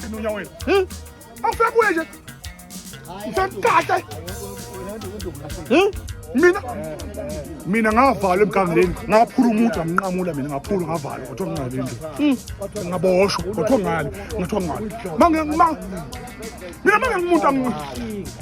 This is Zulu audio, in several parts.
Inunya wena. Hmm? Awufika kuye nje. Usemkhahle. Hmm? Mina mina ngavalwa emgangeleni ngaphula umuthi amnqamula mina ngaphula ngavalwa kuthiwa ngingale nje hmm. ngaboshwa kuthiwa ngale ngathiwa ngale mina mangengumuntu angi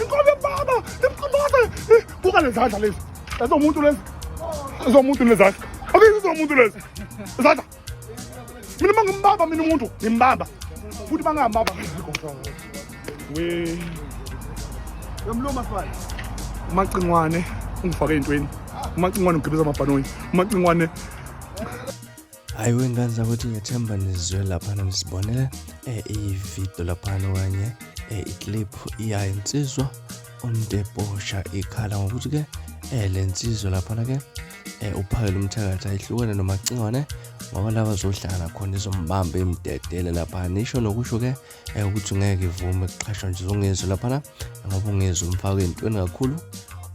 inkomo yobaba imqomboze buka lezandla lezi ezomuntu lezi ezomuntu lezandla ake izomuntu lezi izandla mina uma ngimbamba mina umuntu ngimbamba futhi uma ngingambamba we yomluma sibali umacingwane ungifake entweni umacingwane ugibeza amabhanoyi umacingwane hayi wengane zakuthi ngethemba nizwe laphana nisibonele eh, ividiyo laphana okanye eh, iclip iyayo insizwa umdebosha ikhala ngokuthi-ke eh, le nsizwa laphana-ke eh, uphakele umthakathi ayihlukene nomacingwane ngoba laba zohlangana khona izombamba imdedele laphana isho nokusho-ke um eh, ukuthi ngeke ivume kuqhashwa nje zungizwe laphana ngoba ungizwe umfake entweni kakhulu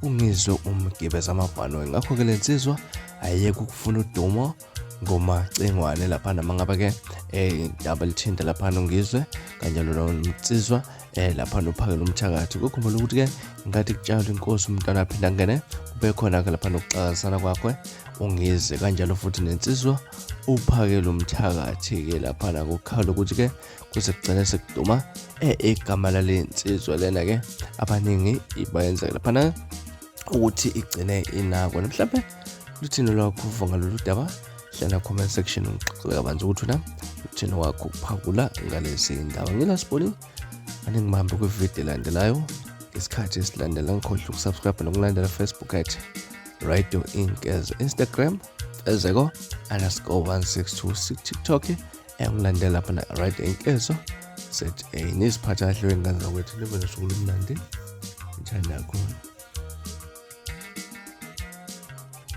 ungizwe umgibeza amabhanoyi ngakho-ke le nsizwa ayeke ukufuna udumo ngomacingwane laphana uma ngabe-ke um indaba lithinta laphana ungizwe kanjalo nomnsizwa um eh, laphana uphakela umthakathi kokhumbula ukuthi-ke ngathi kutshalwa inkosi umntwana aphinde angene kube khona-ke laphana ukuxakazisana kwakhe ungize kanjalo futhi nensizwa uphakele umthakathi-ke laphana kukhala ukuthi-ke kuze kugcine sekuduma eh, igama lale nsizwa lena ke abaningi ibayenza laphana ukuthi igcine inakwa mhlawumbe luthini lwakho uva ngalolu daba hlala comment section ngixoxele kabanzi ukuthi na luthini wakho ukuphakula ngalezi ndaba ngilasiboni aningibambe kwividiyo elandelayo ngesikhathi esilandela ngikhohle ukusubscribe nokulandela facebook at radio inkez instagram ezeko underscore 162 tiktok uyakulandela lapha na right enkezo za niziphatha kahle wengane zakwethu nibe nosuku lomnandi njani nakhona